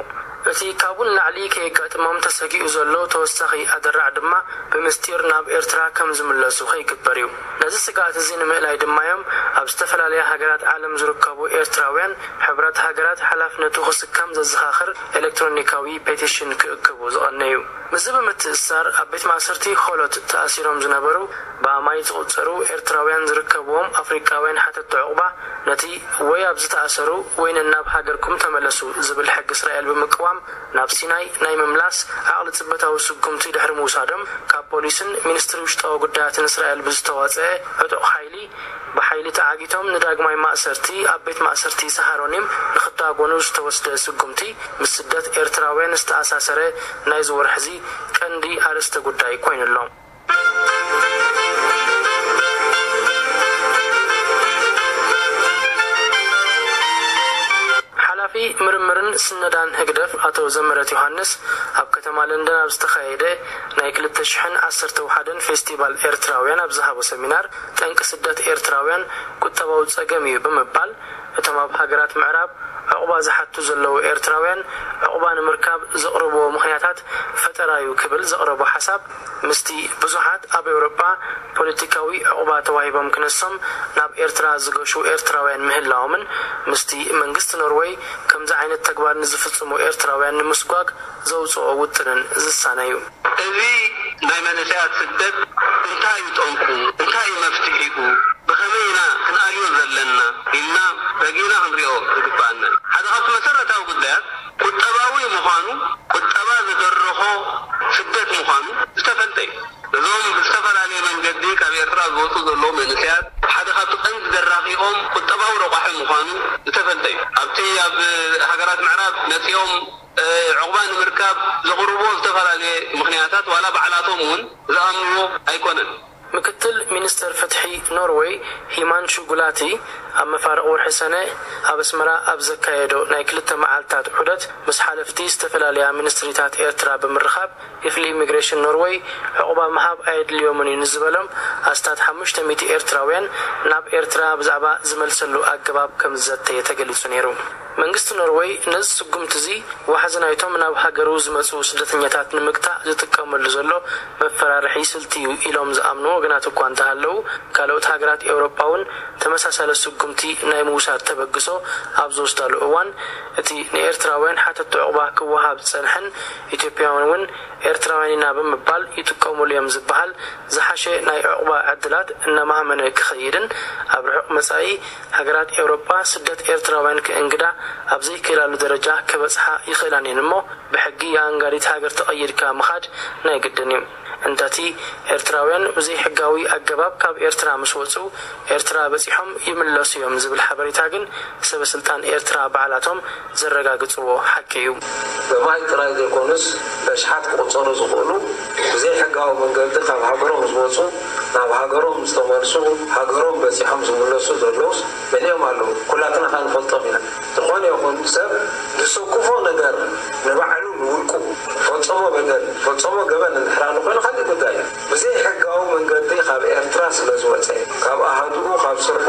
እቲ ካብኡ ንላዕሊ ከየጋጥሞም ተሰጊኡ ዘሎ ተወሳኺ ኣደራዕ ድማ ብምስጢር ናብ ኤርትራ ከም ዝምለሱ ከይግበር'ዩ። ነዚ ስግኣት'ዚ ንምእላይ ድማ'ዮም ኣብ ዝተፈላለያ ሃገራት ዓለም ዝርከቡ ኤርትራውያን ሕብራት ሃገራት ሓላፍነቱ ክስከም ዘዘኻኽር ኤለክትሮኒካዊ ፔቲሽን ክእክቡ ዝቐነዩ። ምስዚ ብምትእስሳር ኣብ ቤት ማእሰርቲ ኾሎት ተኣሲሮም ዝነበሩ ብኣማኢት ዝቑጸሩ ኤርትራውያን ዝርከብዎም ኣፍሪቃውያን ሓተቲ ዑቕባ፣ ነቲ ወይ ኣብዚ ተኣሰሩ ወይ ነናብ ሃገርኩም ተመለሱ ዝብል ሕጊ እስራኤል ብምቅዋም ናብ ሲናይ ናይ ምምላስ ዓቕሊ ጽበታዊ ስጉምቲ ድሕሪ ምውሳዶም ካብ ፖሊስን ሚኒስትሪ ውሽጣዊ ጉዳያትን እስራኤል ብዝተዋጽኤ ዕጡቕ ሓይሊ ብሓይሊ ተዓጊቶም ንዳግማይ ማእሰርቲ ኣብ ቤት ማእሰርቲ ሳሃሮኒም ንኽዳጎኑ ዝተወስደ ስጉምቲ ምስ ስደት ኤርትራውያን ዝተኣሳሰረ ናይዚ ወርሒ'ዚ ቀንዲ ኣርእስተ ጉዳይ ኮይኑ'ሎ። ሓላፊ ምርምርን ስነዳን ህግደፍ ኣቶ ዘምህረት ዮሃንስ ኣብ ከተማ ለንደን ኣብ ዝተኻየደ ናይ ክልተ ሽሕን ዓሰርተ ውሓደን ፌስቲቫል ኤርትራውያን ኣብ ዝሃቦ ሰሚናር ጠንቂ ስደት ኤርትራውያን ቁጠባዊ ጸገም እዩ ብምባል እቶም ኣብ ሃገራት ምዕራብ ዑቕባ ዝሓቱ ዘለዉ ኤርትራውያን ዑቕባ ንምርካብ ዘቕርብዎ ምኽንያታት ፈጠራ'ዩ ክብል ዘቕረቦ ሓሳብ ምስቲ ብዙሓት ኣብ ኤውሮጳ ፖለቲካዊ ዑቕባ ተዋሂቦም ክነሶም ናብ ኤርትራ ዝገሹ ኤርትራውያን ምህላዎምን ምስቲ መንግስቲ ኖርወይ ከምዚ ዓይነት ተግባር ንዝፍጽሙ ኤርትራውያን ንምስጓግ ዘውጽኦ ውጥንን ዝሳነ'ዩ። እዚ ናይ መንእሰያት ስደት እንታይ'ዩ ጠንቁ? እንታይ'ዩ መፍትሒኡ? ብኸመይ ኢና ክንኣልዮ ዘለና ኢልና ረጊእና ክንሪኦ ዝግብኣና ሓደ ካብቲ መሰረታዊ ጉዳያት። ቁጠባዊ ምዃኑ፣ ቁጠባ ዝደረኾ ስደት ምዃኑ ዝተፈልጠ እዩ። እዞም ብዝተፈላለየ መንገዲ ካብ ኤርትራ ዝወጹ ዘለዉ መንእሰያት ሓደ ካብቲ ቀንዲ ደራኺኦም ቁጠባዊ ረቋሒ ምዃኑ ዝተፈልጠ እዩ። ኣብቲ ኣብ ሃገራት ምዕራብ መጺኦም ዑቕባ ንምርካብ ዘቕርብዎ ዝተፈላለየ ምኽንያታት ዋላ ባዕላቶም እውን ዝኣምንዎ ኣይኮነን። ምክትል ሚንስተር ፍትሒ ኖርወይ ሂማንሹ ጉላቲ ኣብ መፋርቕ ወርሒ ሰነ ኣብ ኣስመራ ኣብ ዘካየዶ ናይ ክልተ መዓልታት ዑደት ምስ ሓለፍቲ ዝተፈላለያ ሚንስትሪታት ኤርትራ ብምርኻብ ክፍሊ ኢሚግሬሽን ኖርወይ ዑቕባ ምሃብ ኣየድልዮምን እዩ ንዝበሎም ኣስታት ሓሙሽተ ሚእቲ ኤርትራውያን ናብ ኤርትራ ብዛዕባ ዝመልሰሉ ኣገባብ ከምዝዘተየ ተገሊጹ ነይሩ። መንግስቲ ኖርወይ ነዚ ስጉምቲ'ዚ ዋሕዚ ናይቶም ናብ ሃገሩ ዝመጽኡ ስደተኛታት ንምግታእ ዝጥቀመሉ ዘሎ መፈራርሒ ስልቲ'ዩ ኢሎም ዝኣምኑ ወገናት እኳ እንተሃለዉ፣ ካልኦት ሃገራት ኤውሮጳ'ውን ተመሳሳሊ ስጉምቲ ናይ ምውሳድ ተበግሶ ኣብ ዝወስዳሉ እዋን፣ እቲ ንኤርትራውያን ሓተቲ ዑቕባ ክወሃብ ዝጸንሐን ኢትዮጵያውያን'ውን ኤርትራውያን ኢና ብምባል ይጥቀሙሉ'ዮም ዝበሃል ዝሓሸ ናይ ዑቕባ ዕድላት እናማህመነ ክኸይድን ኣብ ርሑቕ መጻኢ ሃገራት ኤውሮጳ ስደት ኤርትራውያን ክእንግዳ ኣብ ዘይክእላሉ ደረጃ ክበጽሓ ይኽእላን እየን እሞ ብሕጊ ኣኣንጋዲት ሃገር ተቐይድካ ምኻድ ናይ ግድን እዩ። እንተቲ ኤርትራውያን ብዘይሕጋዊ ኣገባብ ካብ ኤርትራ ምስ ወጹ ኤርትራ በጺሖም ይምለሱ እዮም ዝብል ሓበሬታ ግን ሰበስልጣን ኤርትራ ባዕላቶም ዘረጋግጽዎ ሓቂ እዩ። ብማይ ጥራይ ዘይኮኑስ በሽሓት ክቑጸሩ ዝኽእሉ ብዘይሕጋዊ መንገዲ ካብ ሃገሮም ዝወጹ ናብ ሃገሮም ዝተመልሱ ሃገሮም በጺሖም ዝምለሱ ዘለዉስ መሊኦም ኣለዉ ኩላትና ከኣ ንፈልጦም ኢና ዝኾነ ይኹን ሰብ ዝሰኩፎ ነገር ንባዕሉ ንውልቁ ፈጸሞ በደል ፈጸሞ ገበን እንድሕር ኣሎ ኮይኑ ካሊእ ጉዳይ እዩ ብዘይሕጋዊ መንገዲ ካብ ኤርትራ ስለዝወጸ ካብ ኣሃዱኡ ካብ ስርሑ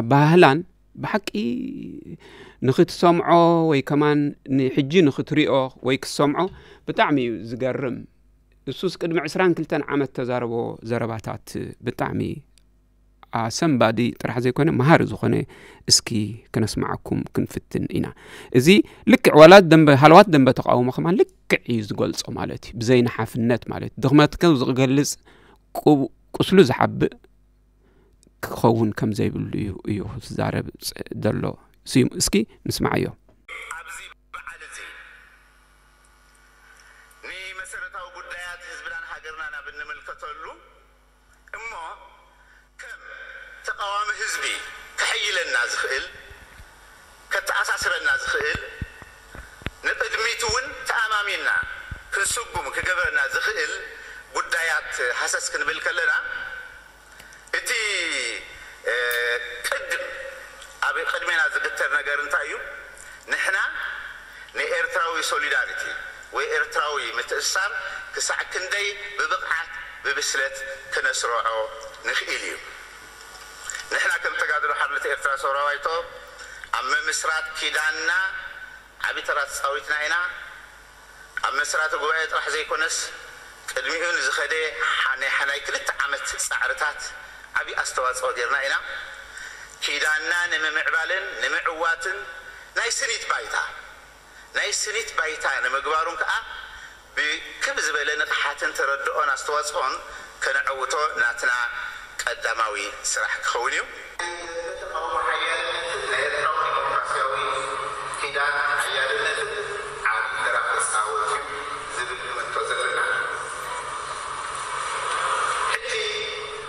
ኣባሃህላን ብሓቂ ንክትሰምዖ ወይ ከማን ንሕጂ ንክትሪኦ ወይ ክትሰምዖ ብጣዕሚ እዩ ዝገርም እሱስ ቅድሚ ዕስራን ክልተን ዓመት ተዛረቦ ዘረባታት ብጣዕሚ ኣሰንባዲ ጥራሕ ዘይኮነ መሃሪ ዝኾነ እስኪ ክነስማዓኩም ክንፍትን ኢና እዚ ልክዕ ዋላት ደንበ ሃለዋት ደንበ ተቃውሞ ከማ ልክዕ እዩ ዝገልጾ ማለት እዩ ብዘይናሓፍነት ማለት እዩ ድኽመትከ ዝገልጽ ቁስሉ ዝሓብእ ክኸውን ከም ዘይብሉ እዩ እዩ ዝዛረብ ዘሎ ስዩም እስኪ ንስማዓዮ ኣብዚ በዓል እዚ ንመሰረታዊ ጉዳያት ህዝብናን ሃገርናን ኣብ እንምልከተሉ እሞ ከም ተቓዋሚ ህዝቢ ከሐይለና ዝኽእል ከተኣሳስረና ዝኽእል፣ ንቕድሚት'ውን ተኣማሚንና ክንስጉም ክገብረና ዝኽእል ጉዳያት ሃሰስ ክንብል ከለና፣ እቲ ቅድም ኣብ ቅድሜና ዝግተር ነገር እንታይ እዩ? ንሕና ንኤርትራዊ ሶሊዳሪቲ ወይ ኤርትራዊ ምትእስሳር ክሳዕ ክንደይ ብብቕዓት ብብስለት ክነስረዖ ንኽኢል እዩ። ንሕና ከም ተጋድሎ ሓርነት ኤርትራ ሰውራ ባይቶ ኣብ ምምስራት ኪዳንና ዓቢ ተራ ተጻዊትና ኢና። ኣብ መስራቲ ጉባኤ ጥራሕ ዘይኮነስ ቅድሚኡ ንዝኸደ ናይ ናይ ክልተ ዓመት ጻዕርታት ዓቢ ኣስተዋጽኦ ጌርና ኢና። ኪዳንና ንምምዕባልን ንምዕዋትን ናይ ስኒት ባይታ፣ ናይ ስኒት ባይታ ንምግባሩን ከኣ ብክብ ዝበለ ንቕሓትን ተረድኦን ኣስተዋጽኦን ከነዐውቶ ናትና ቀዳማዊ ስራሕ ክኸውን እዩ። ብዝያዳ ተቓውሞ ሓያልነትን ናይ ኤርትራዊ ዲሞክራስያዊ ኪዳን ሓያልነትን ዓቢ ተራ ክጻወት እዩ ዝብል እምንቶ ዘለና ሕጂ፣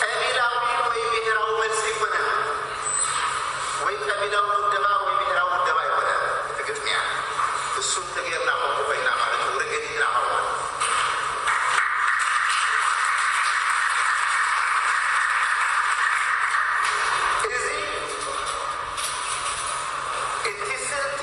ቀቢላዊ ወይ ብሄራዊ መልሲ ኣይኮነን ወይ ቀቢላዊ ውደባ ወይ ብሄራዊ ውደባ ኣይኮነን እቲ ግጥሚያ እሱ እንተገይርና ከምኡ ኮይና ማለት እዩ ርግእ ኢልና ከምኡ እዚ እቲ ስልቲ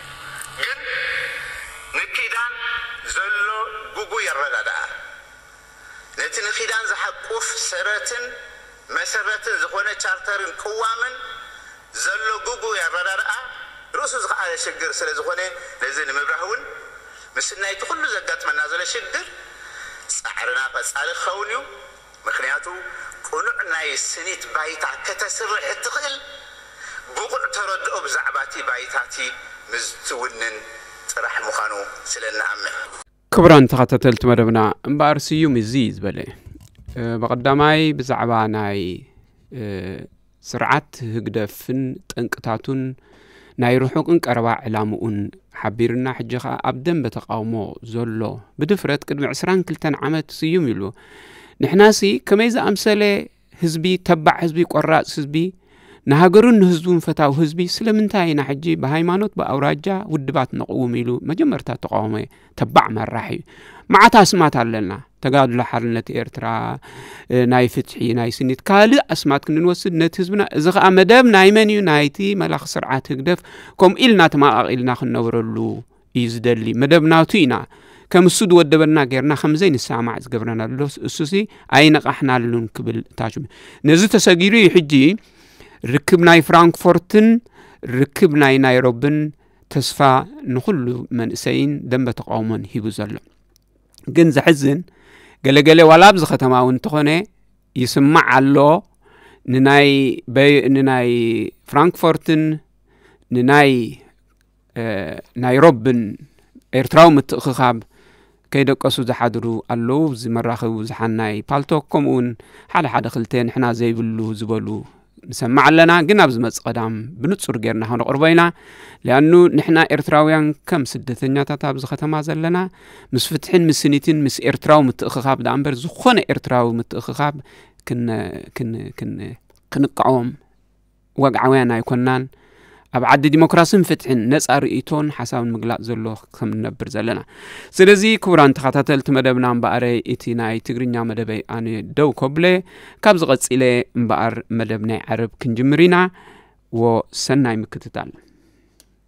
ግን ንኪዳን ዘሎ ጉጉይ ኣረዳድኣ፣ ነቲ ንኪዳን ዝሓቁፍ ሰረትን መሰረትን ዝኾነ ቻርተርን ቅዋምን ዘሎ ጉጉይ ኣረዳድኣ ርእሱ ዝኸኣለ ሽግር ስለዝኾነ ነዚ ንምብራህ እውን ምስናይ እቲ ኩሉ ዘጋጥመና ዘሎ ሽግር ጻዕርና ቀጻሊ ክኸውን እዩ። ምኽንያቱ ቅኑዕ ናይ ስኒት ባይታ ከተስርሕ እትኽእል ብቑዕ ተረድኦ ብዛዕባቲ ባይታቲ ምዝትውንን ጥራሕ ምዃኑ ስለእንኣምን። ክቡራን ተኸታተልቲ መደብና እምበኣር ስዩም እዚ ዝበለ ብቐዳማይ ብዛዕባ ናይ ስርዓት ህግደፍን ጠንቅታቱን ናይ ርሑቕን ቀረባ ዕላምኡን ሓቢርና ሕጂ ኸኣ ኣብ ደንበ ተቓውሞ ዘሎ ብድፍረት ቅድሚ 22 ዓመት ስዩም ኢሉ ንሕናሲ ከመይ ዝኣምሰለ ህዝቢ ተባዕ ህዝቢ ቆራፅ ህዝቢ ንሃገሩን ንህዝቡን ፈታዊ ህዝቢ ስለምንታይ ኢና ሕጂ ብሃይማኖት ብኣውራጃ ውድባት ነቕውም ኢሉ መጀመርታ ተቃወመ ተባዕ መራሒ እዩ መዓት ኣስማት ኣለና ተጋድሎ ሓርነት ኤርትራ ናይ ፍትሒ ናይ ስኒት ካልእ ኣስማት ክንንወስድ ነቲ ህዝብና እዚ ከዓ መደብ ናይ መን እዩ ናይቲ መላኽ ስርዓት ህግደፍ ከምኡ ኢልና ተማቓቒልና ክንነብረሉ እዩ ዝደሊ መደብ ናቱ ኢና ከም እሱ ዝወደበና ጌርና ከምዘይ ንሰማዕ ዝገብረና ኣሎ እሱሲ ኣይነቓሕናሉን ክብል ታሽ ነዚ ተሰጊሩ እዩ ሕጂ ርክብ ናይ ፍራንክፎርትን ርክብ ናይ ናይሮብን ተስፋ ንኹሉ መንእሰይን ደንበ ተቃውሞን ሂቡ ዘሎ ግን ዘሕዝን ገለገለ ዋላ ኣብዚ ከተማ እውን እንተኾነ ይስማዕ ኣሎ ንናይ ንናይ ፍራንክፎርትን ንናይ ናይሮብን ኤርትራዊ ምትእኽኻብ ከይደቀሱ ዝሓድሩ ኣለዉ ኣብዚ መራኸቢ ብዙሓን ናይ ፓልቶክ ከምኡ ውን ሓደ ሓደ ክልተ ንሕና ዘይብሉ ዝበሉ ንሰማዕ ኣለና ግን ኣብ ዝመፅ ቀዳም ብንጹር ጌርና ክንቕርቦ ኢና ሊኣኑ ንሕና ኤርትራውያን ከም ስደተኛታት ኣብዚ ከተማ ዘለና ምስ ፍትሕን ምስ ስኒትን ምስ ኤርትራዊ ምትእኽኻብ ዳኣ እምበር ዝኾነ ኤርትራዊ ምትእኽኻብ ክንቃወም ወግዓውያን ኣይኮናን ኣብ ዓዲ ዲሞክራሲን ፍትሕን ነፃ ርእቶን ሓሳብን ምግላፅ ዘሎ ከም ንነብር ዘለና ስለዚ ክቡራን ተኸታተልቲ መደብና እምበኣረ እቲ ናይ ትግርኛ መደበይ ኣነ ደው ከብለ ካብ ዝቐፂለ እምበኣር መደብ ናይ ዓረብ ክንጅምር ኢና ወሰናይ ምክትታል